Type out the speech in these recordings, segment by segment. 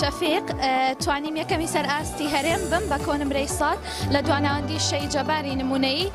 شەفیق توانیم یەکەمی سەر ئاستی هەرێم بم بە کۆنمرەی سات لە دواناندی شەی جەباری نمونەی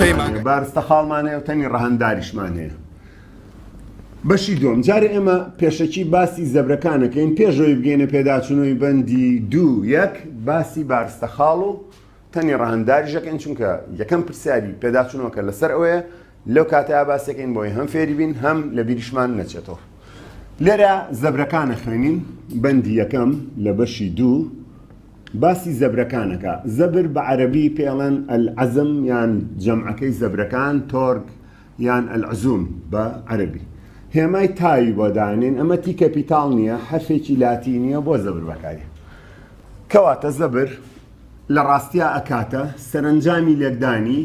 پەیمانگە بارستە خاڵمان هەیە و تەنی ڕەهەنداریشمان هەیە بەشی دوم جارێ ئێمە پێشەکی باسی زەبرەکانەکەین پێشەوەی بگەینە پێداچوونەوەی بەندی دوو یەک باسی بارستە خاڵ و تەنی ڕەهنداریشەکەن چونکە یەکەم پرسیاری پێداچوونەوەکە لەسەر ئەوەیە لەو کاتەیە باسەکەین بۆی هەم فێری بین هەم لە بیریشمان نەچێتەوە لێرە زەبرەکانە خوێنین بەندی یەکەم لە بەشی دوو باسی زەبرەکان ئەکا، زەبر بە عەرەبی پێ ئەڵێن العزم یان جەمعەکەی زەبرەکان تۆرگ یان العزوم بە عەرەبی هێمای تاوی بۆ دانێن ئەمە تی کەپیتاڵ نییە حەرفێکی لاتینییە بۆ زەبر بەکاری کەواتە زەبر لە ڕاستیا ئەکاتە سەرنجامی لێکدانی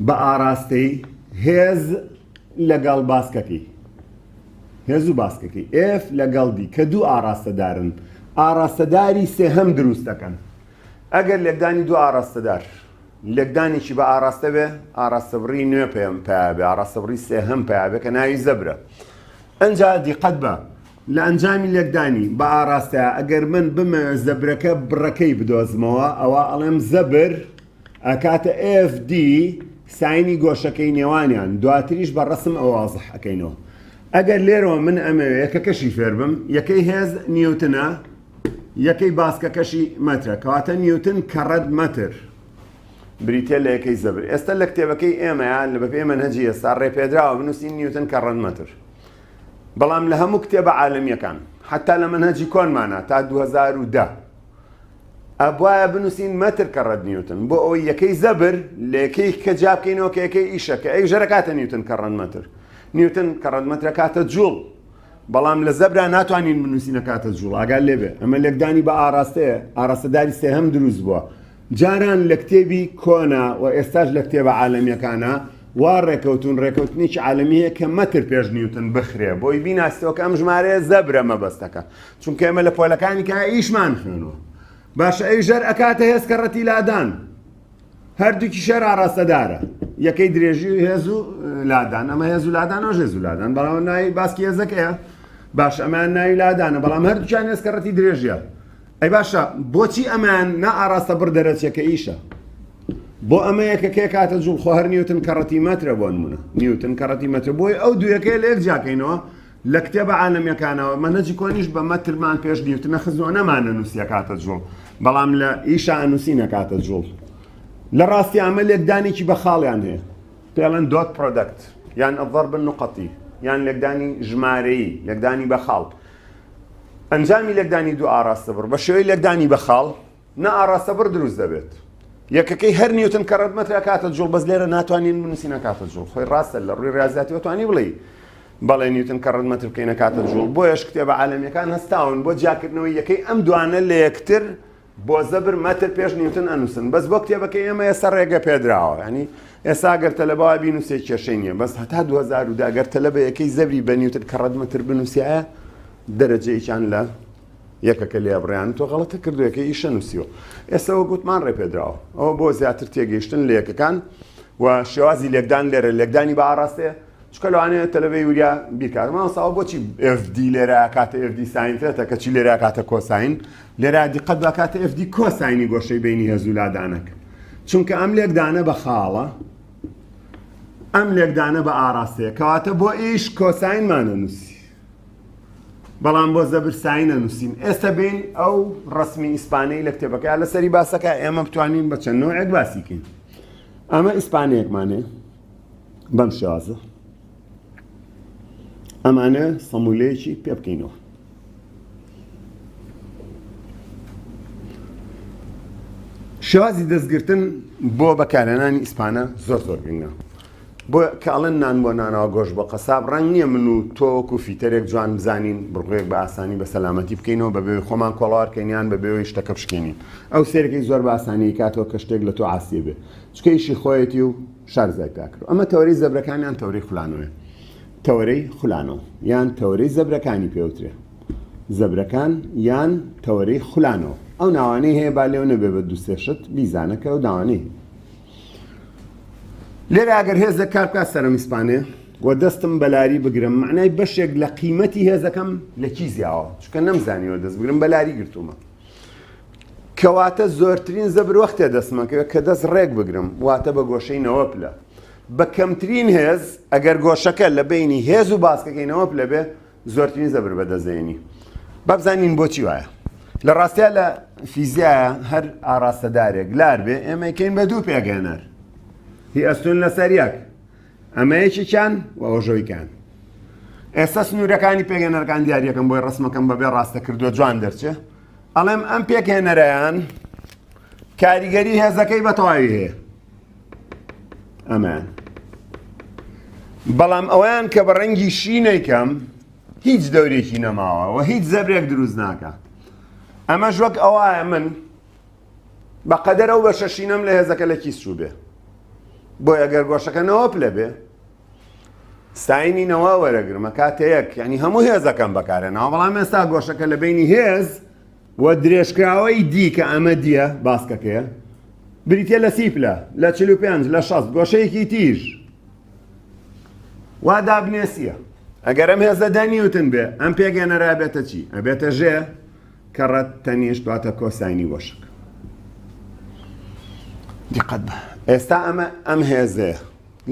بە ئاراستەی هێز لەگەڵ باسکەکەی هێز و باسکەکەی ئێف لەگەڵ دی کە دوو ئاراستەدارن ئاراستەداری سێهەم دروست دەکەن ئەگەر لێکدانی دوو ئاراستەدار لێکدانێکی بە ئاراستە بێ ئاراستەبڕی نوێ پێم پیاێ ئاراستەبڕی سێهەم پیاێ کە ناوی زەبرە ئەجا دیقەت بە لە ئەنجامی لێکدانی بە ئاراستە ئەگەر من بمە زەبرەکە بڕەکەی بدۆزمەوە ئەوە ئەڵێم زەبر ئەکاتە FD ساینی گۆشەکەی نێوانیان دواتریش بە ڕەسم ئەوە وازح ئەکەینەوە ئەگەر لێرەوە من ئەمەوێ یەکەکەشی فێربم یەکەی هێز نیوتنە یەکەی باسکەکەشی مەترە کەواتە نیوتن کەڕەت مەتر بریتە لە یەکەی زەبر ئێستا لە کتێبەکەی ئێمەیان لە بەپێ منهجی ئێستا ڕێپێدراوە بنووسین نیوتن کە ڕەنمەتر بەڵام لە هەموو کتێبە عالمیەکان حتا لە منهجی کۆنمانە تا 2010 ئەبوایە بنوسین مەتر کە ڕە نیوتن بۆ ئەوەی یەکەی زەبر لە یەکەی کە جابکەینەوە کە یەکەی ئیشە کە ئەی ژەرە کاتە نیوتن کە ڕەن مەتر نیوتن کە ڕەن مەترە کاتە جوڵ بەڵام لە زەبرا ناتوانین بنووسینە کاتە جوڵ ئاگال لێبێ ئەمە لێکدانی بە ئاراستەیە ئاراستەداری سێ هەم دروست بووە جاران لە کتێبی کۆنا و ئێستاش لە کتێبە عالمیەکانە وا ڕێکەوتون ڕێکەوتنیی عالمیە کە مەتر پێش نیوتن بخرێ بۆی بیناسیەوە کە ئەم ژمارەیە زەبرە مەبەستەکە چونکە ئێمە لە پۆلەکانی کە ئیشمان خوێنەوە باشە ئەی ژەر ئەکاتە هێز کە ڕەتی لادان هەردووکی شەر ئاراستەدارە یەکەی درێژی و هێز و لادان ئەمە هێز و لادان و ژێز و لادان بەڵام ناوی باسکی هێزەکەیە باش ئەمان ناوی لادانە بەڵام هەردووچان هێز کە ڕەتی درێژە ئەی باشە بۆچی ئەمان نا ئاراستە بڕ دەرەچێکە ئیشە بۆ ئەمە یەکەکەی کاتە جوڵ خۆ هەر نیوتن کەڕەتی مەترە بۆ نمونە نیوتن کەڕەتی مەتر بۆی ئەو دووەکەی لێک جیاکەینەوە لە کتێبە عالەمیەکانەوە مەنهەجی کۆنیش بە مەترمان پێش نیوتن نەخزنەوە نەمان نەنووسی ئەکاتە جوڵ بەڵام لە ئیشا ئەنووسی نەکاتە جوڵ لە ڕاستی ئەمە لێکدانێکی بە خاڵیان هەیە پێڵەن دۆت پرۆدەکت یان ئەڤەر بن نقەتی یان لێکدانی ژمارەیی لێکدانی بە خاڵ ئەنجامی لێکدانی دوو ئاراستە بڕ بە شێوەی لێکدانی بە خاڵ نا ئاڕاستە بڕ دروست دەبێت. یەکەکەی هەر نیوتن کەڕەتمەتر ئەکاتە جوڵ بەس لێرە ناتوانین بنووسین ئەکاتە جوڵ خۆی ڕاستە لە ڕووی ڕاستاتیەوە توانی بڵێی بەڵێ نیوتن کەڕەتمەتر بکەین ئەکاتە جوڵ بۆیەش کتێبە عالەمیەکان هەستاون بۆ جیاکردنەوەی یەکەی ئەم دوانە لە یەکتر بۆ زەبر مەتر پێش نیوتن ئەنووسن بەس بۆ کتێبەکە ئێمە ئێستا ڕێگە پێدراوە ینی ئێستا گەر تەلەبەوە بی نووسێ کێشەی نییە بەس هەتا 2010 گەر تەلەبە یەکەی زەبری بە نیوتن کەڕەتمەتر بنووسایە دەرەجەیەکیان لە یەکەکە لێ بڕیان تۆ غەڵەتە کردوەکە ئیشە نووسیوە ئێسەوە گوتمان ڕێپێدراوە ئەوە بۆ زیاتر تێگەیشتن لە یەکەکان و شێوازی لێکدان لێرە لێکدانی بە ئاراستەیە چکە لەوانەیە تەلەبەی وریا بیکارمەوە ساوە بۆچی FD لێرا کاتە FD ساینتێتە کەچی لێرا کاتە کۆساین لێرا دیقەت بە کاتە FD کۆساینی گۆشەی بینی هێزولادانەکە چونکە ئەم لێکدانە بە خاڵە ئەم لێکدانە بە ئاراستەیە کەواتە بۆ ئیش کۆساینمانە نووسی بەڵام بۆ زەبرسایی نەنووسین ئێستا بین ئەو ڕسمی ئیسپانەی لە کتێبەکە لە سەری باسەکە ئێمە بتوانین بە چەند نوعێک باسیکەین ئەمە ئیسپانەیەکمانێ بەم شێوازە ئەمانە سەمولەیەکی پێ بکەینەوە شێوازی دەستگرتن بۆ بەکارێنانی ئیسپانە زۆر زۆر گرنگە بۆ کە ئەڵێن نان بۆ نانەوە گۆش بۆ قەساب ڕەنگ نییە من و تۆ وەکو فیتەرێک جوان بزانین بڕگوێک بە ئاسانی بە سەلامەتی بکەینەوە بە بێوی خۆمان کۆڵاوارکەینیان بە بێوەی شتەکە بشکێنین ئەو سێرەکەی زۆر بە ئاسانی کاتەوە کە شتێک لە تۆ عاسیە بێ چکە ئیشی خۆیەتی و شارزای پاکرد ئەمە تەوەری زەبرەکانیان تەوری خولانەوەێ تەوەرەی خولانەوە یان تەوەری زەبرەکانی پێوترێ زەبرەکان یان تەوەری خولانەوە ئەو ناوانەی هەیە با لێو نەبێ بە دووسێشت بیزانەکە و داوانەی لێرە ئەگەر هێزێک کار بکات سەرم ئیسپانێ و دەستم بەلاری بگرم معنای بەشێک لە قیمەتی هێزەکەم لە کی زیاوە چکە نەمزانیەوە دەست بگرم بەلاری گرتومە کەواتە زۆرترین زەبر وەختێ دەستمەکە کە دەست ڕێک بگرم واتە بە گۆشەی نەوە پلە بە کەمترین هێز ئەگەر گۆشەکە لە بینی هێز و باسکەکەینەوە پلە بێ زۆرترین زەبر بەدەست دێنی با بزانین بۆچی وایە لە ڕاستیا لە فیزیایە هەر ئاراستەدارێک لار بێ ئێمەکەین بە دوو پێگەێنەر هی ئەستون لەسەر یەک ئەمە یەکێکیان و ئەوژۆیکان ئێستا سنوورەکانی پێگەێنەرەکان دیارەکەم بۆی ڕسمەکەم بەبێ ڕاستە کردو جوان دەرچێ ئەڵێم ئەم پێکهێنەرەیان کاریگەری هێزەکەی بە تەواوی هەیە ئەمان بەڵام ئەویان کە بە ڕەنگی شینێکەم هیچ دەورێکی نەماوە و هیچ زەبرێک دروست ناکە ئەمەش وەک ئەوایە من بە قەدەر ئەو بەشە شینەم لە هێزەکە لە کیس چوو بێ بۆ ئەگەر گۆشەکەنەوە پلە بێ ساینینەوە وەرەگرمە کاتەیەک ینی هەموو هێزەکەم بەکارێنەوە بەڵام ئێستا گۆشەکە لە بینی هێز و درێژکراوەی دی کە ئەمە دیە باسکەکەیە بریتیە لە سی پلە لە چل و پێنج لە شەست گۆشەیەکی تیژ وا دابنێسیە ئەگەر ئەم هێزە دە نیوتن بێ ئەم پێگەێنەرا بێتە چی ئەبێتە ژێ کە ڕەت تەنیشت دواتە کۆساینی وەشک دیقەت بە ئێستا ئەمە ئەم هێزەیە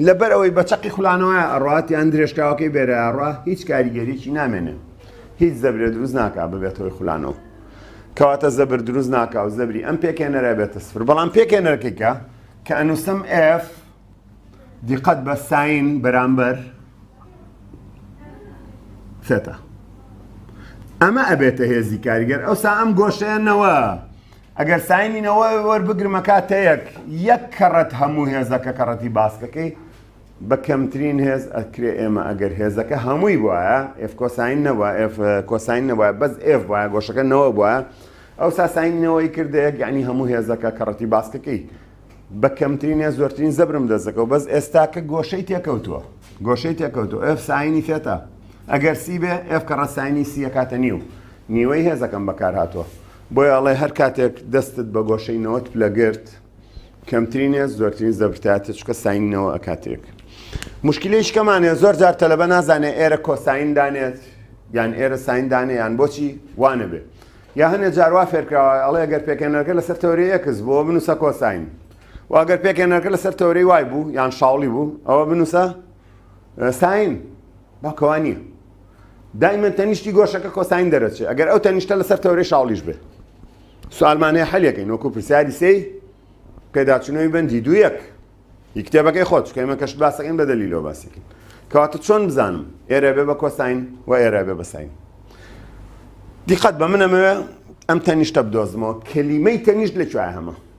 لەبەر ئەوەی بە چەقی خولانەوەیە ئەڕات یان درێژکاوەکەی بێرەیە ئەڕا هیچ کاریگەریەکی نامێنێ هیچ زەبرێ دروست ناکا ببێت هۆی خولانەوە کەواتە زەبر دروست ناکا و زەبری ئەم پێکێنەرە بێتە سفر بەڵام پێکێنەرەکەیکە کە ئەنووسم F دیقەت بە ساین بەرامبەر سێتا ئەمە ئەبێتە هێزی کاریگەر ئەوسا ئەم گۆشەیەنەوە ئەگەر ساینی نەوە وەربگرمە کاتەیەک یەک کەڕەت هەموو هێزەکە کەڕەتی باسکەکەی بە کەمترین هێز ئەکرێ ئێمە ئەگەر هێزەکە هەمووی وایە ئف کۆساین نەوە ئف کۆساین نەوە بەس ئف وایە گۆشەکە نەوە بووە ئەو ساساینەوەی کردەیەک یعنی هەموو هێزەکە کەڕەتی باسکەکەی بە کەمترین هێز زۆرترین زەبرم دەزەکە و بەس ئێستاکە گۆشەی تێکەوتووە گۆشەی تێکەوتو ئف ساینی فێتە ئەگەر سی بێ ئف کەڕە ساینی سیە کاتە نیو نیوەی هێزەکەم بەکار هاتووە بۆیە ئەڵێ هەر کاتێک دەستت بە گۆشەی نەوەت پلە گرت کەمترین هێز زۆرترین زەبرتاتە چکە ساینینەوە ئەکاتێک مشکلیش کەمانێ زۆر جار تەلەبە نازانێ ئێرە کۆساین دانێت یان ئێرە ساین دانێ یان بۆچی وانە بێت یا هەنێ جاروا فێرکراوە ئەڵێ گەر پێکێنەرگە لەسەر تەوری ئەکس بۆ بنووسە کۆساین واگەر پێکێنەرگە لەسەر تەوری وای بوو یان شاڵی بوو ئەوە بنووسە ساین باکەوانیە دایمەن تەنیشتی گۆشەکە کۆساین دەرەچێ ئەگەر ئەو تەنیشتە لەسەر تەورەی شاڵیش بێ سوالمانەیە حەلەکەین وەکو پرسیاری سێی پێداچوونەوەی بەندی دوو یەک هی کتێبەکەی خۆت کەمە کەش باسەکەین بە دەلی لۆ باسەکەین کەواتە چۆن بزانم ئێرە بێ بە کۆساین و ئێرە بێ بەساین دیقەت بە منەمەوێ ئەم تەنیشتە بدۆزمەوە کەلیمەی تەنیشت لە کوێ هەمە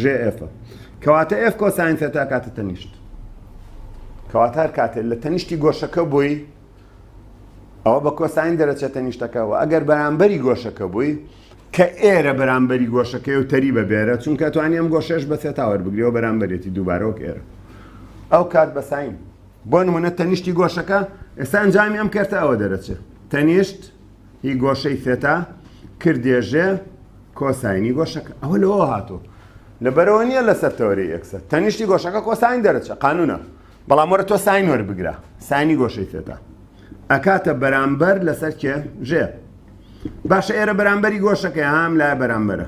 ژێ ئێفە کەواتە ئێف کۆساین سێتا کاتە تەنیشت کەواتار کاتێت لە تەنیشتی گۆشەکە بووی ئەوە بە کۆساین دەرەچێت تەنیشتەکەەوە ئەگەر بەرامبەری گۆشەکە بووی کە ئێرە بەرامبەری گۆشەکەی و تەری بە بێرە چونکە توانانی ئەم گۆشەش بە سێتاوەەر بگرەوە بەرامبەرێتی دووبارەوەک ئێرە ئەو کات بەساین بۆ نمونە تەنیشتی گۆشەکە ئێستا ئەنجامی ئەم کەرتە ئەوە دەرەچێت تەنیشت هی گۆشەی ثێتا کردێژێ کۆساینی گۆشەکە ئەوە لەوە هاتوو لەبەرەوە نییە لەسەر تەوەری ئەکسە تەنیشتی گۆشەکە کۆساین دەرەچە قانونە بەڵام وەرە تۆ ساین وەربگرە ساینی گۆشەی ثێتا ئەکاتە بەرامبەر لەسەر کێ ژێ باشە ئێرە بەرامبەری گۆشەکە هام لای بەرامبەرە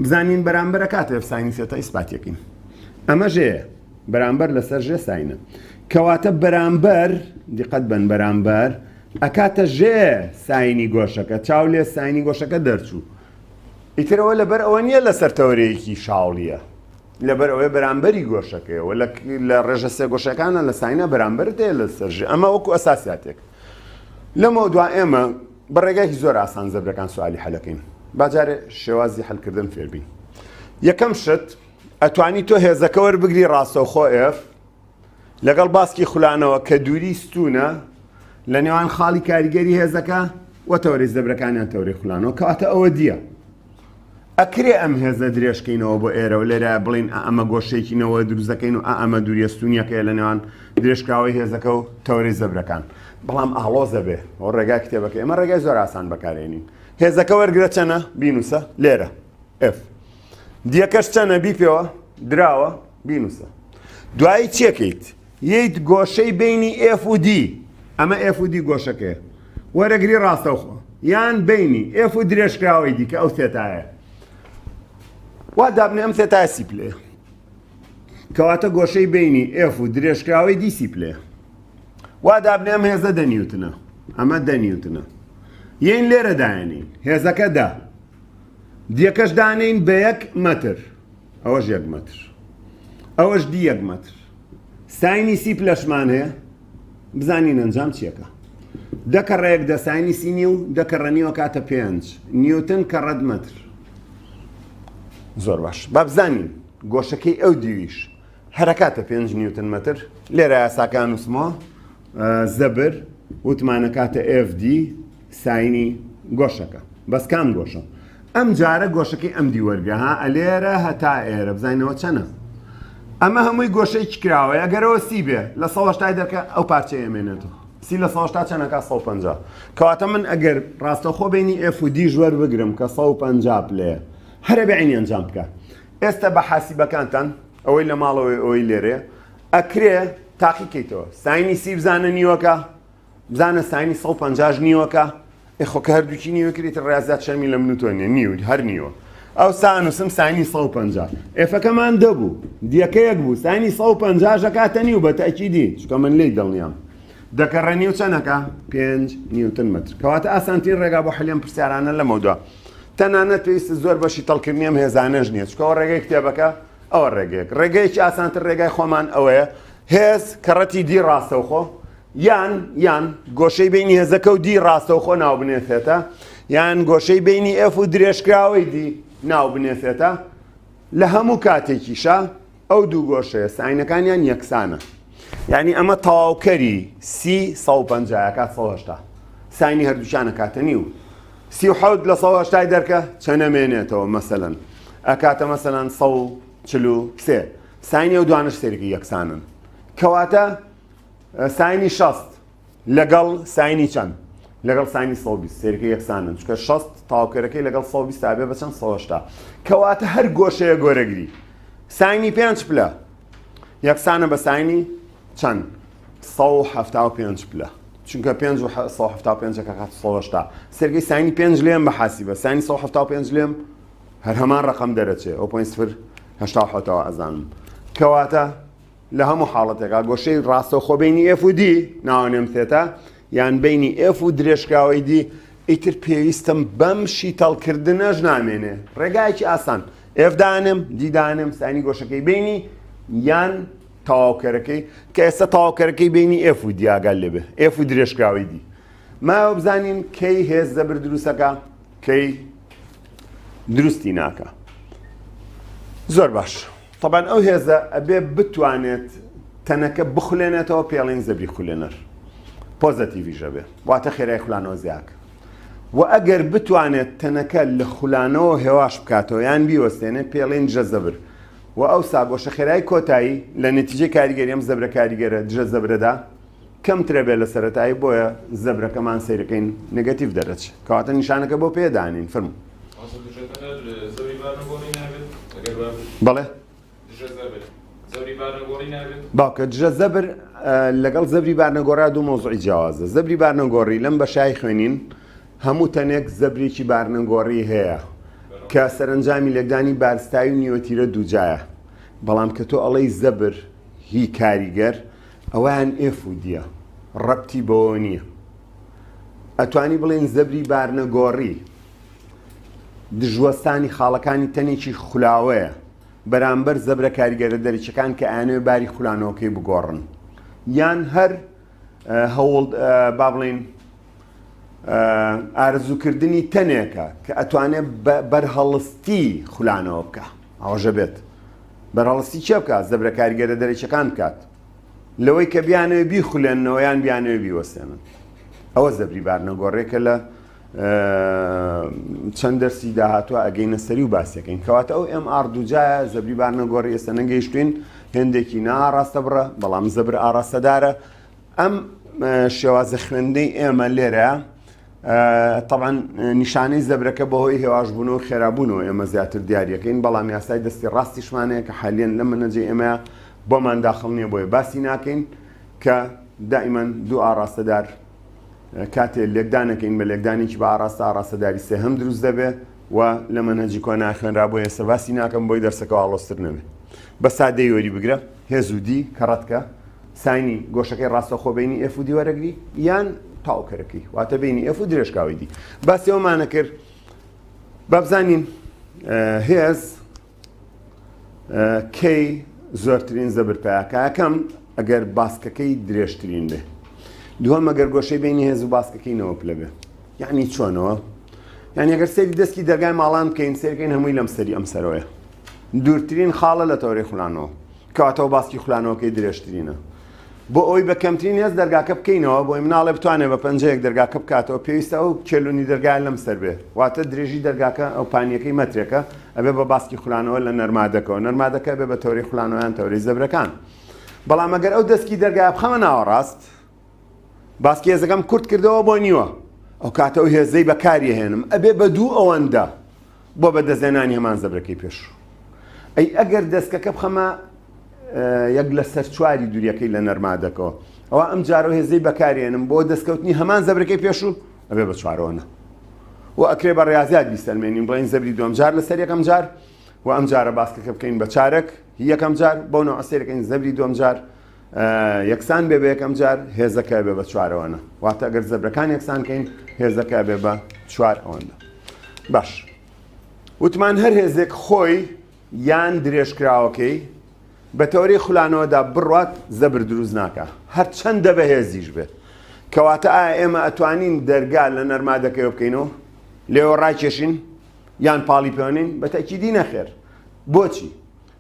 بزانین بەرامبەرە کاتێ ساینی ثێتا ئیسپاتەکەین ئەمە ژێ بەرامبەر لەسەر ژێ ساینە کەواتە بەرامبەر دیقەت بن بەرامبەر ئەکاتە ژێر ساینی گۆشەکە چاو لێ ساینی گۆشەکە دەرچوو ئیترەوە لەبەر ئەوە نییە لەسەر تەوەرەیەکی شاڵیە لەبەر ئەوەی بەرامبەری گۆشەکەیەوە لە ڕێژە سێ گۆشەکانە لە ساینا بەرامبەر دێ لە سەرژ ئەمە وەکو ئەساساتێک لەمە دوا ئێمە بە ڕێگایکی زۆر ئاسان زەبرەکان سوالی حەلەکەین باجارێ شێوازی حلکردن فێربین یەکەم شت ئەتوانی تۆ هێزەکە وەربگری ڕاستەوخۆ ئف لەگەڵ باسکی خولانەوە کە دووری ستوونە لە نێوان خاڵی کاریگەری هێزەکە و تەوەری زەبرەکانیان تەوری خولانەوە کەواتە ئەوە دییە ئەکرێ ئەم هێزە درێژکەینەوە بۆ ئێرە و لێرە بڵین ئەمە گۆشێکی نەوە دروزەکەین و ئەمە دووریەستونیەکەی لە نێوان درێژکراوەی هێزەکە و تەوری زەبرەکان بەڵام ئاڵۆزە بێ ئەو ڕێگا کتێبەکە ئێمە ڕێگای زۆر ئاسان بەکارێنین هێزەکە وەرگرە چەنە بینوسە لێرە F دیەکەش چەنە بیپێوە دراوە بینوسە دوایی چێکیت ییت گۆشەی بینی ئف و دی ئەمە ئف و دی گۆشەکەیە وەرەگری ڕاستەوخۆ یان بینی ئف و درێژکراوەی دیکە ئەو سێتایە وا دابنێ ئەم سێتای سی پلێ کەواتە گۆشەی بینی ئف و درێژکراوەی دیسی پلێ وا دابنێ ئەم هێزە دەنیوتنە ئەمە دەنیوتنە یین لێرە دایێنین هێزەکە دا دیەکەش دانێین بە یەک مەتر ئەوەش یەک مەتر ئەوەش دی یەک مەتر ساینی سی پلەشمان هەیە بزانین ئەنجام چیەکە دەکە ڕێک دە ساینی سی نیو دەکە ڕەنیوە کاتە پێنج نیوتن کە ڕەد مەتر زۆر باش بابزانین گۆشەکەی ئەو دیویش هەرکاتە پێنج نیوتن مەتر لێرە یاساکان وسمۆ زەبر وتمانە کاتە FD ساینی گۆشەکە بەس کام گۆشە. ئەم جارە گۆشەکەی ئەم دی وەرگرە ها ئەلێرە هەتا ئێرە بزانینەوە چەنە ئەمە هەمووی گۆشەی کراوەیە گەرەوە سی بێ لە سەهشتای دەکە ئەو پارچەیە مێنێتەوە سی لە سەهشتا چەنەکە 150 کەواتە من ئەگەر ڕاستەخۆ بینی ئفودی ژوەر بگرم کە 150 پلێ هەرە بەعینی ئەنجام بکە ئێستا بە حاسیبەکانتان ئەوەی لە ماڵەوەی ئەوەی لێرێ ئەکرێ تاقیکەیتەوە ساینی سی بزانە نیوەکە بزانە ساینی سەد و پەنجا ش نیوەکە؟ ئێ خۆ کە هەردووکی نیوەکە ئیتر ڕێاضیات شەرمی لە من و تۆ نییە، نیو هەر نیوە. ئەوسا ئەنووسم ساینی سەد و پەنجا. ئێفەکەمان دە بوو، دیەکە یەک بوو، ساینی سەد و پەنجا ش ئەکاتە نیو بە تەئکیدی، چونکە من لێی دڵنیام. دە کەڕێ نیو چەند ئەکا؟ پێنج نیوتن مەتر. کەواتە ئاسانترین ڕێگا بۆ حەلی ئەم پرسیارانە لەمەودوا. تەنانەت پێویستە زۆر بەشی تەڵکردنی ئەم هێزانەش نییە، چونکە ئەوە ڕێگەی کتێبەکە، ئەوە ڕێگەیەک. ڕێگەیەکی ئاسانتر ڕێگای خۆمان ئەوەیە، هێز کە ڕەتی دی ڕاستەوخۆ یان یان گۆشەی بینی هێزەکە و دی ڕاستەوخۆ ناوبنێسێتە یان گۆشەی بینی ئێف و درێژکراوەی دی ناوبنێسێتە لە هەموو کاتێکیشە ئەو دوو گۆشەیە ساینەکانیان یەکسانە یعنی ئەمە تەواوکەری سی 150 کات 1970 ساینی هەردووچانە کاتە نیو سی حوت لە سەوە هەشتای دەرکە چەنەمێنێتەوە مەسەەن ئەکاتە مەسەەن سە چلو سێ ساینی ئەو دوانەش سەیرێکی یەکسانن کەواتە ساینی شەست لەگەڵ ساینی چەند لەگەڵ ساینی سە سێرکە یەکسانن چکە شەست تاوکەرەکەی لەگەڵ سە تابێ بە چەند سەهشتا کەواتە هەر گۆشەیە گۆرەگری ساینی پێنج پلە یەکسانە بە ساینی چەند سە هەفتا و پێنج پلە چونکە پێ پێنجەکە هەشتا سێرگەی ساینی پێنج لێم بە حاسی بە ساینی سە هەفتا پێنج لێم هەر هەمان ڕقم دەرەچێ ئەو پوین سفر هشتا حوتەوە ئەزانم کەواتە لە هەموو حاڵەتێکا گۆشەی ڕاستە خۆ بینی ئفودی ناوانێم سێتە یان بینی ئف و درێژکراوەی دی ئیتر پێویستم بەم شیتەڵکردنەش نامێنێ ڕێگایکی ئاسان ئفدانم دیدانم سانی گۆشەکەی بینی یان تەواوکەرەکەی کە ئێستا تەواوکەرەکەی بینی ئف و دیاگەل لێبێ ئف و درێژکراوەی دی ماوە بزانین کەی هێز زەبر دروستەکە کەی دروستی ناکە زۆر باش طبعاان ئەو هێزە ئەبێ بتوانێت تەنەکە بخولێنێتەوە پێڵین زەبری خولێنەر پۆزەتیڤژە بێ واتە خێرای خولانەوە زیاک و ئەگەر بتوانێت تەنەکە لە خولانەوە هێواش بکاتەوە یان بیوەستێنێ پێڵین جە زەبر و ئەو ساگۆشە خێرای کۆتایی لە نتیجە کاریگەریم زەبرە کاریگەرە دژە زەبرەدا کەمترە بێت لە سەرەتایی بۆیە زەبرەکەمان سەیرەکەین نگەتیڤ دەرەچ کەواتە نیشانەکە بۆ پێدانین فرم بەڵێ باوکە دژە زەبر لەگەڵ زەبری بارنەگۆڕا دوو مۆزعی جیاوازە زەبری بارنەگۆڕی لەم بە شای خوێنین هەموو تەنێک زەبرێکی بارنەگۆڕی هەیە کە سەرنجامی لەگدانی بارستایی و نیوەتیرە دووجایە بەڵام کە تۆ ئەڵەی زەبر هی کاریگەر ئەوەیان ئێف و دیە ڕەبتی بەوەوە نیە ئەتوانی بڵێن زەبری بارنەگۆڕی دژوەستانی خاڵەکانی تەنێکی خولاوەیە بەرامبەر زەبرە کاریگەرە دەریچەکان کە ئەیانەوێ باری خولانەوەکەی بگۆڕن یان هەر هەوڵ با بڵێن ئارزوکردنی تەنێکە کە ئەتوانێت بەرهەڵستی خولانەوە بکە ئاوەژە بێت بەرەڵستی چێ بکات زەبرە کاریگەرە دەرەکیەکان بکات لەوەی کە بیانەوێ بیخولێنەوە یان بیانەوێ بیوەستێنن ئەوە زەبری بارنەگۆڕێکە لە چەند دەرسی داهاتوە ئەگەینە سەری و باسەکەین کەواتە ئەو ئەم ئاردوجایە زەبری بارنەگۆڕی ئێستا نەگەیشتوین هێندێکی ناڕاستە بڕە بەڵام زەبر ئاراستەدارە ئەم شێوازە خوێندنەی ئێمە لێرە تەعاان نیشانەی زەبرەکە بەهۆی هێواشبوونەوە خێرابوونەوە ئێمە زیاتر دیارەکەین بەڵام یاسای دەستی ڕاستیشمانەیە کە حالیان لە منەجێ ئێمە بۆمان داخڵ نییە بۆیە باسی ناکەین کە دائیمەن دوو ئاراستەدار کاتێ لێکدانەکەین بە لێکدانێکی بە ئاراستە ئاراستەداری سێ هەم دروست دەبێت و لە منەجی کۆ ناخوێنرا بۆ ئێستا باسی ناکەم بۆی دەرسەکە ئاڵۆستر نەبێت بە سادەی وەری بگرە هێز و دی کە ڕەتکە ساینی گۆشەکەی ڕاستەخۆ بینی ئێف و دی وەرەگری یان تاوکەرەکەی واتە بینی ئێف و درێژکاوی دی باسیەوەمانە کرد بابزانین هێز کەی زۆرترین زەبر پیاکەکەم ئەگەر باسکەکەی درێژترین بێ دووە مەگەر گۆشەی بینی هێز و باسکەکەی نەوە پلە بێ یعنی چۆنەوە یعنی ئەگەر سەیری دەستی دەرگای ماڵان بکەین سەیرکەین هەمووی لەم سەری ئەم سەرۆیە دوورترین خاڵە لە تەورەی خولانەوە کاتەوە باسی خولانەوەکەی درێژترینە بۆ ئەوی بە کەمترین هێز دەرگاکە بکەینەوە بۆی مناڵێ بتوانێ بە پەنجەیەک دەرگاکە بکاتەوە پێویستە ئەو چێلونی دەرگای لەم سەر بێ واتە درێژی دەرگاکە ئەو پانیەکەی مەترێکە ئەبێ بە باسکی خولانەوە لە نەرمادەکەەوە نەرمادەکە بێ بە تەوری خولانەوەیان تەوری زەبرەکان بەڵام ئەگەر ئەو دەستکی دەرگای بخەمە ناوەڕاست باسکی هێزەکەم کورت کردەوە بۆ نیوە ئەو کاتە و هێزەی بەکاری هێنم ئەبێ بە دوو ئەوەندە بۆ بەدەستێنانی هەمان زەبرەکەی پێشوو ئەی ئەگەر دەستکەکە بخەمە یەک لە سەر چواری دووریەکەی لە نەرمادەکەەوە ئەوە ئەم جارەوە هێزەی بەکارێنم بۆ دەستکەوتنی هەمان زەبرەکەی پێشوو ئەبێ بە چوارۆنە و ئەکرێ بە ڕاضات بیسەلمێنین بڵین زەبری دوم جار لەسەر یەکەم جار و ئەم جارە باسکەکە بکەین بە چارەک یەکەم جار بۆ نەوەسەرەکەین زەبری دوم جار یەکسان بێ بە یەکەم جار هێزەکە بێ بە چوارەوەە واتە ئەگەر زەبرەکان یەکسان کەین هێزەکە بێ بە چوار ئەوەندە باش وتمان هەر هێزێک خۆی یان درێژکراوەکەی بە تەوری خولانەوەدا بڕات زەبر دروست ناکە هەر چەندە بە هێزیش بێت کەواتە ئا ئێمە ئەتوانین دەرگا لە نەرما دەکەوە بکەینەوە لێوە ڕاکێشین یان پاڵی پێوانین بە تاکیدی نەخێر بۆچی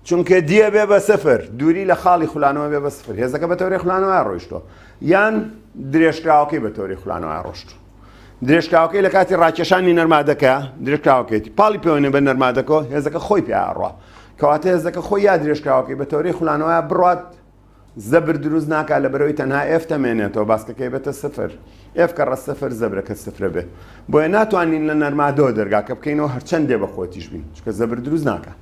چونکە دیە بێ بە سفر دووری لە خاڵی خولانەوە بێ بە سفر هێزەکە بە تەوری خولانەوە ڕۆیشتۆ یان درێژکراوەکەی بە تەوری خولانەوە ڕۆشت درێژکاوەکەی لە کاتی ڕاکێشانی نەرمادەکە درێژکاوەکەیتی پاڵی پێوەێ بە نەرمادەکە هێزەکە خۆی پیاڕە کەواتە هێزەکە خۆی یا درێژکاوەکەی بە تەوری خولانەوە بڕات زەبر دروست ناکا لەبەرەوەی تەنها ئێف تەمێنێتەوە باسکەکەی بێتە سفر ئێف کە ڕە سفر زەبرەکە سفرە بێ بۆیە ناتوانین لە نەرمادەوە دەرگاکە بکەینەوە هەرچەندێ بە خۆتیش بین چکە زەبر دروست ناکە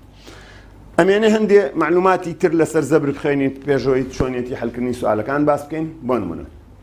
ئەمێنێ هەندێ معلوماتی تر لەسەر زەبر بخێنیت پێشەوەی چۆنیەتی هەلکردنی سوالەکان باس بکەین بۆ نمونە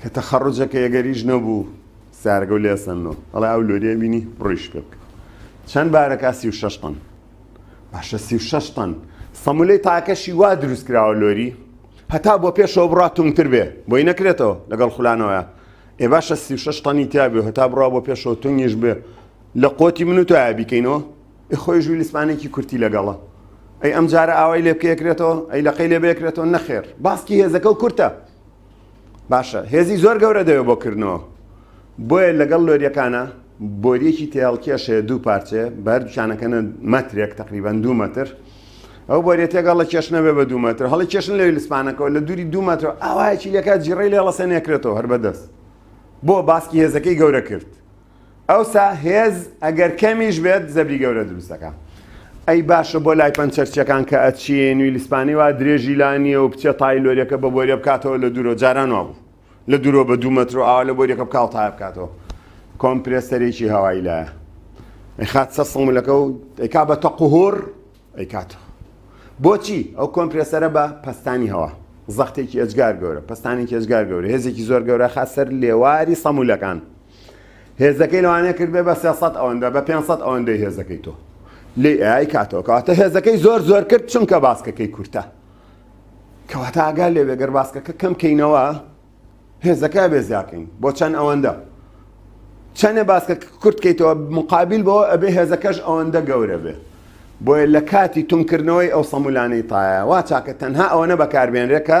کە تەخەڕوجەکە یەگەریش نەبوو سارەکە و لێسەنۆ ئەڵێ ئەو لۆریە بینی بڕیش پێ بکە چەند بارەکە سی و شش تەن باشە سی و شش تەن سەمولەی تاکەشی وا دروست کراوە لۆری هەتا بۆ پێشەوە بڕات تومتر بێ بۆی نەکرێتەوە لەگەڵ خولانەوەە ئێ باشە سی و شش تەنی تیاابێ هەتا بڕا بۆ پێشەوە تونگیش بێ لە قوتی من و تۆ بیکەینەوە ئێ خۆی ژووی لیسمانێکی کورتی لەگەڵە ئەی ئەم جارە ئاوای لێ بکەکرێتەوە ئەی لەقەی لێ بێکرێتەوە نەخێر باسکی هێزەکە و کورتە باشە هێزی زۆر گەورە دەوێت بۆ کردنەوە بۆیە لەگەڵ لۆریەکانە بۆریەکی تێڵکێشێ دوو پارچێ بەر دوچانەکەنە مەترێک تقریبان دوو مەتر ئەو بۆریە تێگەڵ لە کێشنە بێ بە دوو مەتر هەڵی کێشن لەوی لسپانەکەەوە لە دووری دوو مەتر ئاوایەکی لەکات جیڕی لێڵەسەنێکرێتەوە هەر بەدەست بۆ باسکی هێزەکەی گەورە کرد ئەوسا هێز ئەگەر کەمیش بێت زەبری گەورە دروست دەکا ئەی باشە بۆ لای پەنچەرچیەکان کە ئەچین و لیسپانی وا درێژی لا نییە و بچێت تای لۆریەکە بە بۆریە بکاتەوە لە دوورۆ جاران وا بوو لە دوورۆ بە دوو مەتر و ئاوا لە بۆریەکە بکاو تای بکاتەوە کۆمپرێسەرێکی هەوایی لایە خات سە سڵمولەکە و ئەیکا بە تەقوهۆر ئەیکاتەوە بۆچی ئەو کۆمپرسەرە بە پستانی هەوا زەختێکی ئەجگار گەورە پستانێکی ئەجگار گەورە هێزێکی زۆر گەورە خاسەر لێواری سەمولەکان هێزەکەی لەوانەیە کردبێ بە سێ سەد ئەوەندە بە پێنج سەد ئەوەندەی هێزەکەی تۆ لێ ئای کاتەوە کەواتە هێزەکەی زۆر زۆر کرد چونکە باسکەکەی کورتە کەواتە ئاگا لێ بێگەر باسکەکە کەم کەینەوە هێزەکە بێ زیاکەین بۆ چەند ئەوەندە چەندە باسکە کورتکەیتەوە مقابل بەوە ئەبێ هێزەکەش ئەوەندە گەورە بێ بۆیە لە کاتی تومکردنەوەی ئەو سەمولانەی تایە وا چاکە تەنها ئەوەنە بەکاربێنرێکە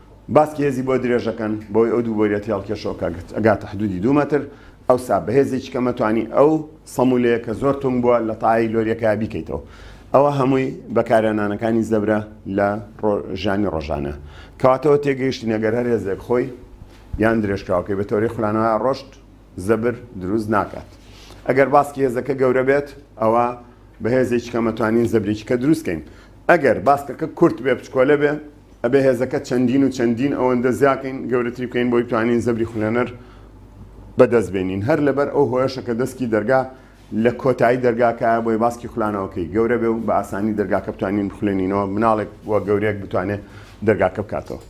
باسکی هێزی بۆ درێژەکەن بۆی ئەو دوو بۆریە تێڵکێشەوەکە گاتە حدودی دوو مەتر ئەوسا بەهێزێکی کەمە توانی ئەو سەمولەیە کە زۆر تونگ بووە لە تاایی لۆریەکە بیکەیتەوە ئەوە هەمووی بەکارێنانەکانی زەبرە لە ژانی ڕۆژانە کەواتەوە تێگەیشتی نەگەر هەر هێزێک خۆی یان درێژکراوەکەی بە تۆری خولانەوە ڕۆشت زەبر دروست ناکات ئەگەر باسکی هێزەکە گەورە بێت ئەوە بەهێزێکی کەمەتوانین زەبرێکی کە دروستکەین ئەگەر باسکەکە کورت بێ بچکۆلە بێ ئەبێ هێزەکە چەندین و چەندین ئەوەندە زیاکەین گەورەتری بکەین بۆی توانین زەبری خولێنەر بەدەست بێنین هەر لەبەر ئەو هۆیەشە کە دەسکی دەرگا لە کۆتایی دەرگاکایە بۆی باسکی خولانەوەکەی گەورە بێ و بە ئاسانی دەرگاکە بتوانین بخولێنینەوە مناڵێک و گەورەیەک بتوانێت دەرگاکە بکاتەوە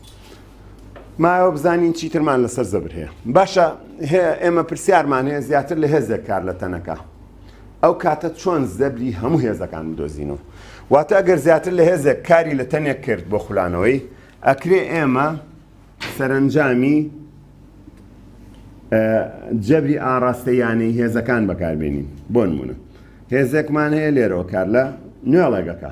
مایەوە بزانین چیترمان لەسەر زەبر هەیە باشە ئێمە پرسیارمان هەیە زیاتر لە هێزێک کار لە تەنەکە ئەو کاتە چۆن زەبری هەموو هێزەکان بدۆزین و واتە ئەگەر زیاتر لە هێزێک کاری لە تەنێک کرد بۆ خولانەوەی ئەکرێ ئێمە سەرنجامی جەبری ئاراستەیانەی هێزەکان بەکاربێنین بۆ نمونە هێزێکمان هەیە لێرەوە کار لە نوێڵێگەکە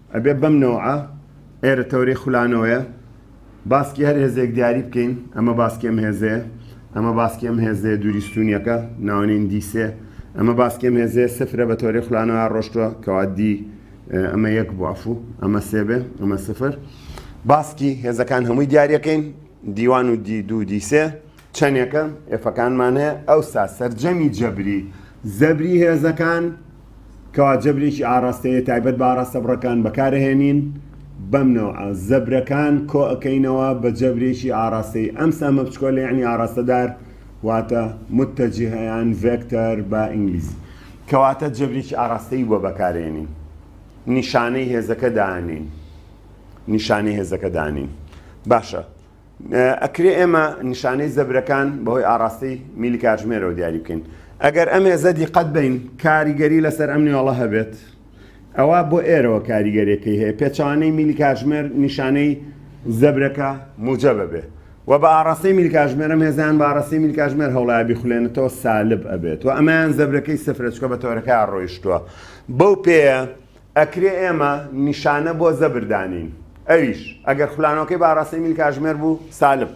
ئەبێ بەم نەوعە ئێرە تەورەی خولانەوەیە باسکی هەر هێزێک دیاری بکەین ئەمە باسکی ئەم هێزەیە ئەمە باسکی ئەم هێزەیە دووری ستوونیەکە ناوەنین دیسێ ئەمە باسکی ئەم هێزەیە سفرە بە تەورەی خولانەوە ڕۆشتووە کەوا دی ئەمە یەک بوو ئەفوو ئەمە سێ بێ ئەمە سفر باسکی هێزەکان هەمووی دیارەکەین دیوان و دی دوو دیسێ چەندێکە ئێفەکانمان هەیە ئەوسا سەرجەمی جەبری زەبری هێزەکان کەوا جەبرێکی ئاڕاستەیە تایبەت بە ئاڕاستە بڕەکان بەکارئەهێنین بەم نەوعە زەبرەکان کۆئەکەینەوە بە جەبرێکی ئاڕاستەی ئەم سەهمە بچکۆلە یعنی ئاڕاستەدار واتە متەجهیان ڤێکتەر بە ئینگلیزی کەواتە جەبرێکی ئاڕاستەی بۆ بەکارێنین نیشانەی هێزەکە دانین نیشانەی هێزەکە دانین باشە ئەکرێ ئێمە نیشانەی زەبرەکان بەهۆی ئاراستەی میلی کاتژمێرەوە دیاری بکەین ئەگەر ئەم هێزە دیقەت بین کاریگەری لەسەر ئەم نێوەڵە هەبێت ئەوە بۆ ئێرەوە کاریگەرێکی هەیە پێچوانەی میلی کاتژمێر نیشانەی زەبرەکە موجە بەبێ و بە ئاراستەی میلی کاتژمێرەم هێزیان بە ئاراستەی میلی کاتژمێر هەوڵایبی خولێنێتەوە سالب ئەبێت و ئەمەیان زەبرەکەی سفرەچکە بە تۆرەکە ڕۆیشتووە بەو پێەیە ئەکرێ ئێمە نیشانە بۆ زەبر دانێین ئەویش ئەگەر خولانەوەکەی بە ئاڕاستەی میل کاژمێر بوو سالب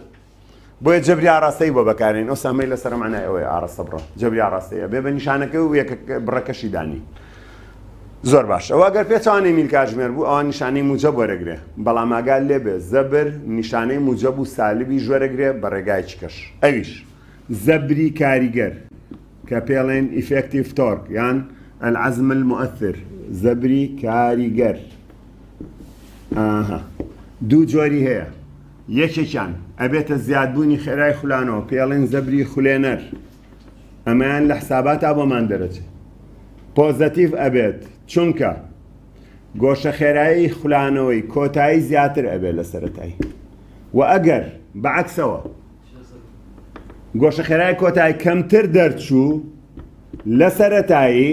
بۆیە جەبری ئاڕاستەی بۆ بەکارێن ئەو سەمەی لەسەر معنای ئەوەیە ئاڕاستە بڕە جەبری ئاڕاستەیە بێ بە نیشانەکە و یەکە بڕەکەشی دانی زۆر باش ئەوە گەر پێچوانەی میل کاژمێر بوو ئەوان نیشانەی موجە بەرەگرێ بەڵام ئاگال لێبێ زەبر نیشانەی موجە بوو سالبی ژوەرەگرێ بە ڕێگایکی کەش ئەویش زەبری کاریگەر کە پێڵێن Effective Torque یان العزم المؤثر زەبری کاریگەر ئاها دوو جۆری هەیە یەکێکیان ئەبێتە زیادبوونی خێرای خولانەوە پێڵێن زەبری خولێنەر ئەمەیان لە حساباتا بۆمان دەرەچێت پۆزەتیڤ ئەبێت چونکە گۆشە خێرایی خولانەوەی کۆتایی زیاتر ئەبێت لە سەرەتای و ئەگەر بەعکسەوە گۆشەخێرای کۆتای کەمتر دەرچوو لە سەرەتایی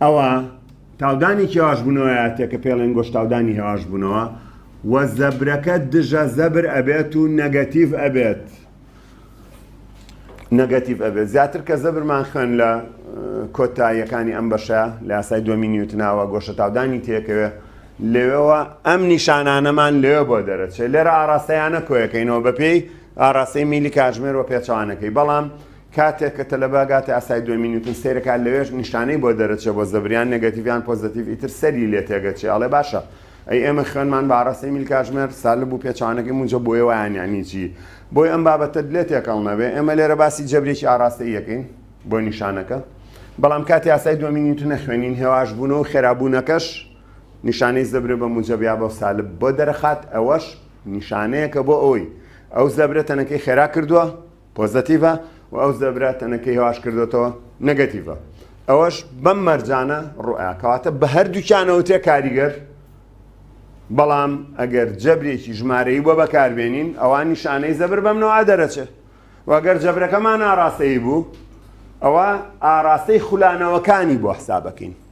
ئەوە تاودانی کێواش بوونەوەیاتێ کە پێڵێن گۆش تاودانی هێواش بوونەوە و زەبرەکە دژە زەبر ئەبێت و نەگەتیڤ ئەبێت نەگەتیڤ ئەبێت زیاتر کە زەبرمان خوێن لە کۆتاییەکانی ئەم بەشە لە یاسای دومی نیوتناوە گۆشە تاودانی تێکەوێت لەوێوە ئەم نیشانانەمان لەوێ بۆ دەرەچێت لێرە ئاراستەیانە کۆیەکەینەوە بەپێی ئاراستەی میلی کاژمێر و پێچوانەکەی بەڵام کاتێک کە تەلەباگاتە ئاسای دوێ مینوتن سیرەکان لەوێش نیشانەی بۆ دەرەچێ بۆ زەبریان نگەتیڤیان پۆزتیڤ ئیتر سەری لێ تێگەچێ ئەڵێ باشە ئەی ئێمە خوێنمان بە ئاراستەی میل کاژمێر سالب و پێچوانەکەی مونجە بۆیە وایان یانی چی بۆی ئەم بابەتە لێ تێکەڵ نەبێ ئێمە لێرە باسی جەبرێکی ئاراستە یەکەین بۆ نیشانەکە بەڵام کاتی ئاسای دوێ مینوتنە خوێنین هێواش بوون و خێرابوونەکەش نیشانەی زەبرە بە موجەب یا بە سالب بۆ دەرەخات ئەوەش نیشانەیەکە بۆ ئەوەی ئەو زەبرە تەنەکەی خێرا کردووە پۆزەتیڤە و ئەو زەبرا تەنەکەی هواش کردوێتەوە نەگەتیڤە ئەوەش بەم مەرجانە ڕوئە کەواتە بە هەردووچانەوە تێ کاریگەر بەڵام ئەگەر جەبرێکی ژمارەی بۆ بەکاربێنین ئەوان نیشانەی زەبر بەم نەوە دەرەچێت وەگەر جەبرەکەمان ئاراستەی بوو ئەوە ئاراستەی خولانەوەکانی بۆ حسابەکەین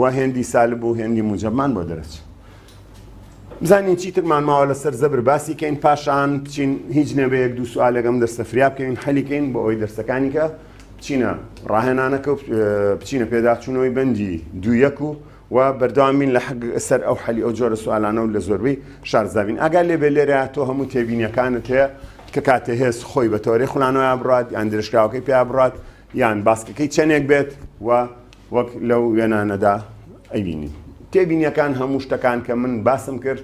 وا هێندی سالب و هێندی موجەبمان بۆ دەرەچێ. بزانین چیترمان ماوە لەسەر زەبر باسی کەین پاشان بچین هیچ نەبەیەک دوو سوالێکم دەرسە فریا بکەین حەلیکەین بۆ ئەوی دەرسەکانی کە بچینە ڕاهێنانەکە و بچینە پێداچوونەوەی بەندی دوویەک و و بەردەوامین لە حەق سەر ئەو حەلی ئەو جۆرە سوالانە و لە زۆربەی شارزابین ئەگەر لێ بێ لێرە تۆ هەموو تێبینیەکانت هەیە کە کاتێ هێز خۆی بە تۆرەی خولانەوە بڕات یان درێژکراوەکەی پێ بڕات یان باسکەکەی چەندێک بێت و وەک لەو وێنانەدا ئەبینین تێبینیەکان هەموو شتەکان کە من باسم کرد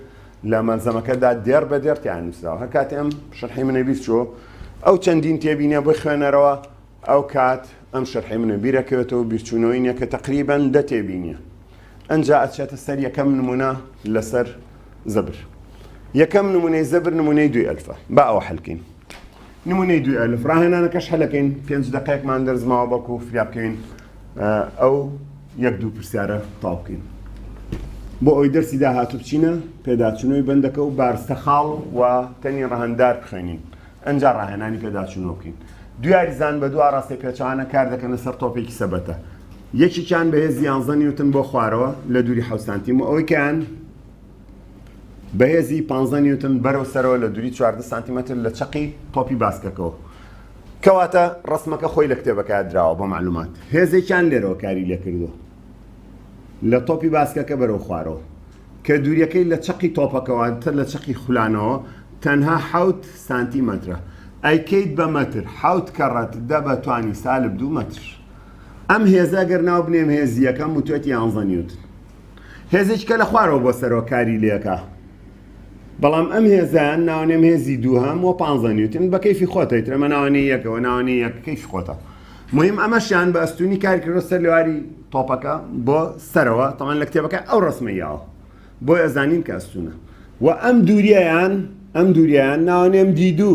لە مەلزەمەکەدا دێر بە دێرتیان نووسراوە هەر کاتی ئەم شەرحی منە بیست چۆ ئەو چەندین تێبینە بۆی خوێنەرەوە ئەو کات ئەم شەرحی منە بیرەکەوێتەوە بیرچوونەوەی نیە کە تقریبان دە تێبینیە ئەنجا ئەچێتە سەر یەکەم نمونە لەسەر زەبر یەکەم نمونەی زەبر نمونەی دوی ئەلفە با ئەوە حەلکەین نمونەی دوی ئەلف ڕاهێنانەکەش هەلەکەین پێنج دقەیەکمان دەرزماوە بەڵکو فریا بکەین ئەو یەک دوو پرسیارە تاو بکەین بۆ ئەوی دەرسی داهاتو بچینە پێداچونەوەی بەندەکە و بارستە خاڵ و تەنی ڕەهندار بخوێنین ئەجا ڕاهێنانی پێداچونەوە بکەین دیاریزان بە دو ڕاستە پێچوانە کار دەکەنە سەر تۆپێکی سەبەتە یەکێکیان بە هێزی یانزە نیوتن بۆ خوارەوە لە دووری حەوت سانتیم و ئەوەی کەیان بە هێزی پانزە نیوتن بەرەو سەرەوە لە دووری چواردە سانتیمەتر لە چەقی تۆپی باسکەکەەوە کەواتە ڕسمەکە خۆی لە کتێبەکە دراوە بۆ معلومات هێزێکیان لێرەوە کاری لێکردووە لە تۆپی باسکەکە بەرەو خوارەوە کە دووریەکەی لە چەقی تۆپەکەوانتر لە چەقی خولانەوە تەنها حوت سانتیمەترە ئەیکەیت بە مەتر حوت کەڕەت دە بە توانی سالب دوو مەتر. ئەم هێزە گەر ناو بنێم هێزی یەکەم وتوێت یانزە نیوتن هێزێکی کە لە خوارەوە بۆ سەرەوە کاری لێکە بەڵام ئەم هێزیان ناونێم هێزی دووهام و پانزە نیوتن بە کەیفی خۆتەیت ئەمە ناوانی یەکەوە ناوانی یەک کەیفی خۆتە مهم ئەمەشیان بە ئەستونی کارکردۆ سەر لێواری تۆپەکە بۆ سەرەوە تەمان لە کتێبەکە ئەو ڕسمە یاوە بۆ ئەزانین کە ئەستونە و ئەم دووریان ئەم دووریان ناونێم دیدو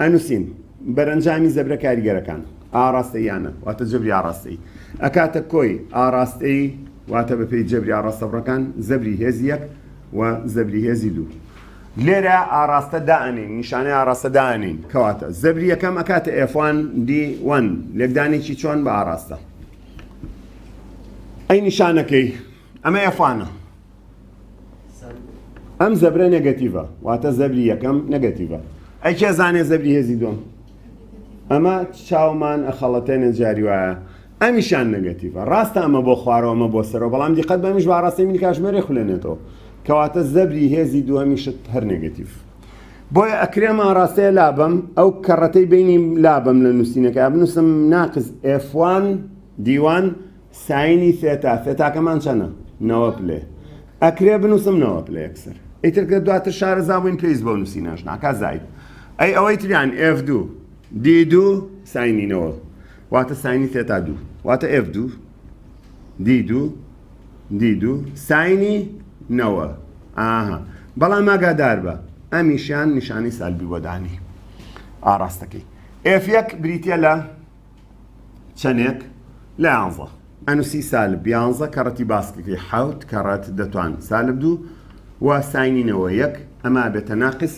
ئەنووسین، بەرەنجامی زەبرە کاریگەرەکان، ئاڕاستەییانە، واتە جەبری ئاڕاستەیی، ئەکاتە کۆی ئاڕاستەیی، واتە بەپێی جەبری ئاڕاستەبڕەکان، زەبری هێزی یەک و زەبری هێزی دوو. لێرە ئاڕاستە دائەنێین، نیشانەی ئاڕاستە دائەنێین، کەواتە، زەبری یەکەم ئەکاتە ئێف وان دی وەن، لێکدانێکی چۆن بە ئاڕاستە؟ ئەی نیشانەکەی؟ ئەمە یەفانە ئەم زەبرە نەگەتیڤە واتە زەبری یەکەم نەگەتیڤە ئەی کێ زانێ زەبری هێزی دوم ئەمە چاومان ئەخەڵەتێنە جاری وایە ئەمیشان نەگەتیڤە ڕاستە ئەمە بۆ خوارەوەمە بۆ سەرەوە بەڵام دیقەت بەمیش باڕاستی من کاژمێرە خولێنێتەوە کەواتە زەبری هێزی دووەمیشت هەر نەگەتیڤ بۆیە ئەکرێم ئاراستەیە لابم ئەو کەڕەتەی بینیم لابم لە نووسینەکە بنووسم ناقز ئفوان دیوان ساینی ثێتا ثێتاکەمان چەنە؟ نەوە پلێ ئەکرێ بنووسم نەوە پلێ یەکسەر ئیتر کە دواتر شارەزا بووین پێویست بۆ نووسینەش ناکا زاید ئەی ئەوەی تریان ئێف دوو دی دوو ساینینەوە واتە ساینی ثێتا دوو واتە ئێف دوو دی دوو دی دوو ساینی نەوە ئاها بەڵام ئاگادار بە ئەمیشیان نیشانەی سالبی بۆدانی ئاراستەکەی ئێف یەک بریتە لە چەنێک لە یانزە ئەنوسی سالب یانزە کەڕەتی باسکەکەی حوت کەڕەت دەتوان سالب دوو و ساینینەوە یەک ئەما بێتە ناقس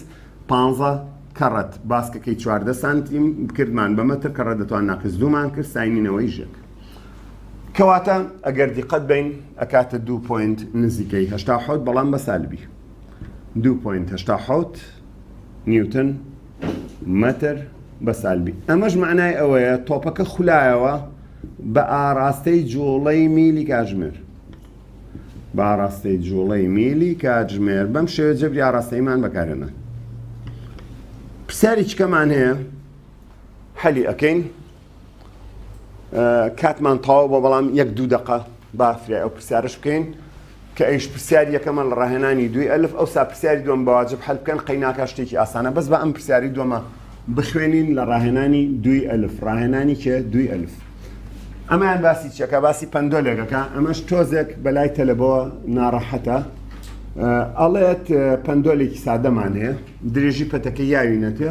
پانزە کەڕەت باسکەکەی چواردە سانتیم بکردمان بە مەتر کەڕە دەتوان ناقس دوومان کرد ساینینەوەی ژێک کەواتە ئەگەر دیقەت بین ئەکاتە دوو پوینت نزیکەی هشتا حوت بەڵام بە سالبی دوو پوینت هشتا حوت نیوتن مەتر بە سالبی ئەمەش معنای ئەوەیە تۆپەکە خولایەوە بە ئاراستەی جوڵەی میلی کاژمێر بە ئاراستەی جوڵەی میلی کاتژمێر بەم شێوە جەبری ئاراستەیمان بەکارێنە پرسیاری چکەمان هەیە حەلی ئەەکەین کاتمان تەواو بە بەڵام یەک دوو دقە بافرای ئەو پرسیارش بکەین کە ئەیش پرسیار یەکەمە لە ڕاهێنانی دوی ئەلف ئەو سا پرسیاری دوم بەواجب حل بکەن قەیناکە شتێکی ئاسانە بەس بە ئەم پرسیاری دومە بخوێنین لە ڕاهێنانی دوی ئەلف ڕاهێنانی کێ دوی ئەلف ئەمەیان باسی چەکە باسی پندۆلێکەکە ئەمەش تۆزێک بەلای تەلەبەوە ناڕەحەتە ئەڵێت پندۆلێکی سادەمان هەیە درێژی پەتەکە یاوی نەتێ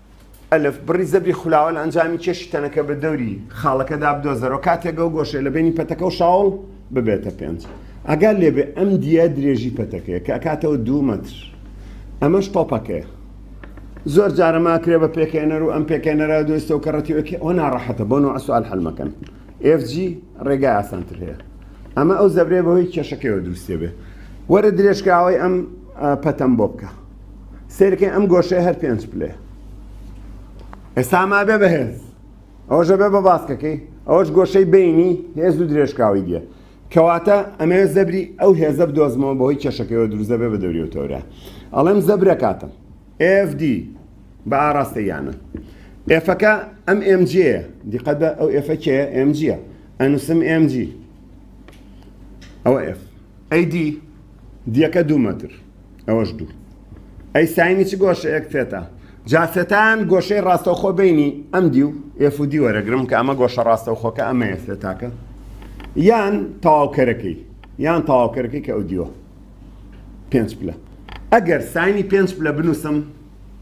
ئەلف، بڕی زەبری خولاوە لە ئەنجامی کێشی تەنەکە بە دەوری خاڵەکەدا بدۆزەرەوە کاتێک ئەو گۆشەیە لە بەینی پەتەکە و شاوڵ ببێتە پێنج. ئەگەر لێبێ ئەم دیە درێژی پەتەکەیە کە ئەکاتەوە دوو مەتر. ئەمەش تۆپەکەیە. زۆر جارە ماکرێ بە پێکێنەر و ئەم پێکێنەرە دۆستە و کەڕەتیوەکی ئەوە ناڕەحەتە بۆ نوع سوال حلمەکەن. FG ڕێگای ئاسانتر هەیە. ئەمە ئەو زەبرێ بەوەی کێشەکەیەوە دروستێ بێ. وەرە درێژکراوەی ئەم پەتەم بۆ بکە. سیرکەی ئەم گۆشەی هەر پێنج پلێ ئێستا مابێ بەهێز ئەوژە بێ بە باسکەکەی ئەوەش گۆشەی بینی هێز و درێژکاوی دیە کەواتە ئەمێ زەبری ئەو هێزە بدۆزمەوە بەهۆی کێشەکەەوە دروزە بێ بە دەوری و تەورە ئەڵێم زەبرە کاتم FD بە ئاراستە یانە ئێفەکە ئەم MG دیقەت بە ئەو ئێفەکێ MG ئەنووسم MG ئەوە F ئەی دی دیەکە دوو مەتر ئەوەش دوو ئەی ساینی چ گۆشەیەک تێتا جا سێتایان گۆشەی ڕاستەوخۆ بینی ئەم دی و ئێف و دی وەرەگرم کە ئەمە گۆشە ڕاستەوخۆکە ئەمەیە سێتاکە یان تەواوکەرەکەی یان تەواوکەرەکەی کە ئەو دیوە پێنج پلە ئەگەر ساینی پێنج پلە بنووسم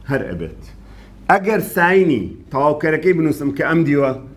هەر ئەبێت ئەگەر ساینی تەواوکەرەکەی بنووسم کە ئەم دیوە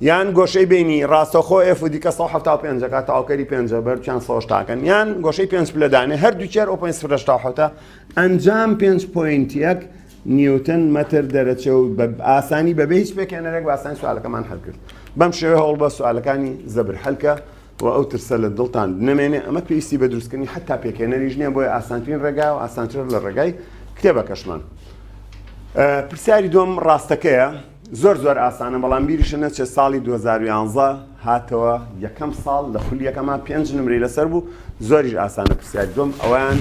یان گۆشەی بینی ڕاستەخۆ ئێف و دیکە 1970 ەکە تاوکەری پێنجە بەرچیان سۆشتاکەن یان گۆشەی پێنج پلەدانێ هەردوو چێر ئۆ پێنج فرشتاحوتە ئەنجام پێنج پوینت یەک نیوتن مەتر دەرەچە و بە ئاسانی بەبێ هیچ پێکێنەرێک باسانی سوالەکەمان هەلکرد بەم شێوە هەوڵ بە سوالەکانی زەبر هەلکە و ئەو ترسە لە دڵتان نمێنێ ئەمە پێویستی بە دروستکردنی حتا پێکێنەریش نییە بۆی ئاسانترین ڕێگا و ئاسانتر لە ڕێگای کتێبەکەشمان پرسیاری دوم ڕاستەکەیە زۆر زۆر ئاسانە بەڵام بیریشە نەچێت ساڵی دوو هەزار و یانزە هاتەوە یەکەم ساڵ لە خولیەکەمان پێنج نمرەی لەسەر بوو زۆریش ئاسانە پرسیار دوم ئەویان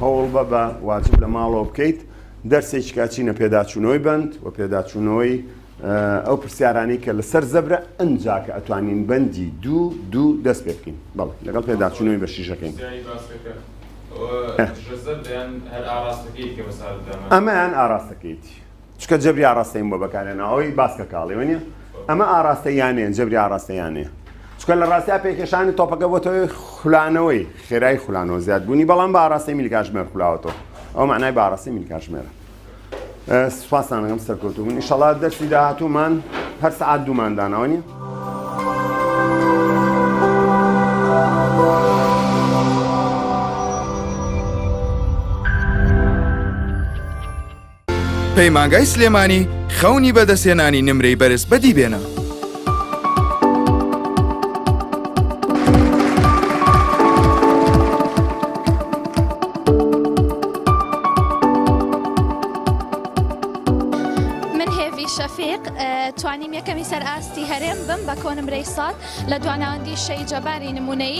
هەوڵ بە بە واجب لە ماڵەوە بکەیت دەرسێکی کاچینە پێداچوونەوەی بند و پێداچوونەوەی ئەو پرسیارانی کە لەسەر زەبرە ئەنجا کە ئەتوانین بەندی دوو دوو دەست پێ بکەین بەڵ لەگەڵ پێداچوونەوەی بەشیشەکەین ئەمەیان ئاراستەکەیتی چکە جەبری ئاراستەی بۆ بەکارێنا ئەوەی باس کە کاڵی وە نیە ئەمە ئاراستە یانێن جەبری ئاراستە یانێ چکە لە ڕاستیا پێکێشانی تۆپەکە بۆتەوەی خولانەوەی خێرای خولانەوە زیاد بوونی بەڵام بە ئاراستەی میلکاشمێر خولاوەتەوە ئەو معنای باڕاستی میلکاشمێرە سوپاسانەکەم سەرکەوتو بوون ئیشەڵات دەرسی داهاتومان هەر سعات دووماندانەوە نیە پەیمانگای سلێمانی خەونی بەدەستێنانی نمرەی بەرز بەدی بێنە. شەفیق توانیم یەکەمی سەر ئاستی هەرێم بم بە کۆنمرەی سات لە دواناوەندی شەی جەباری نمونەی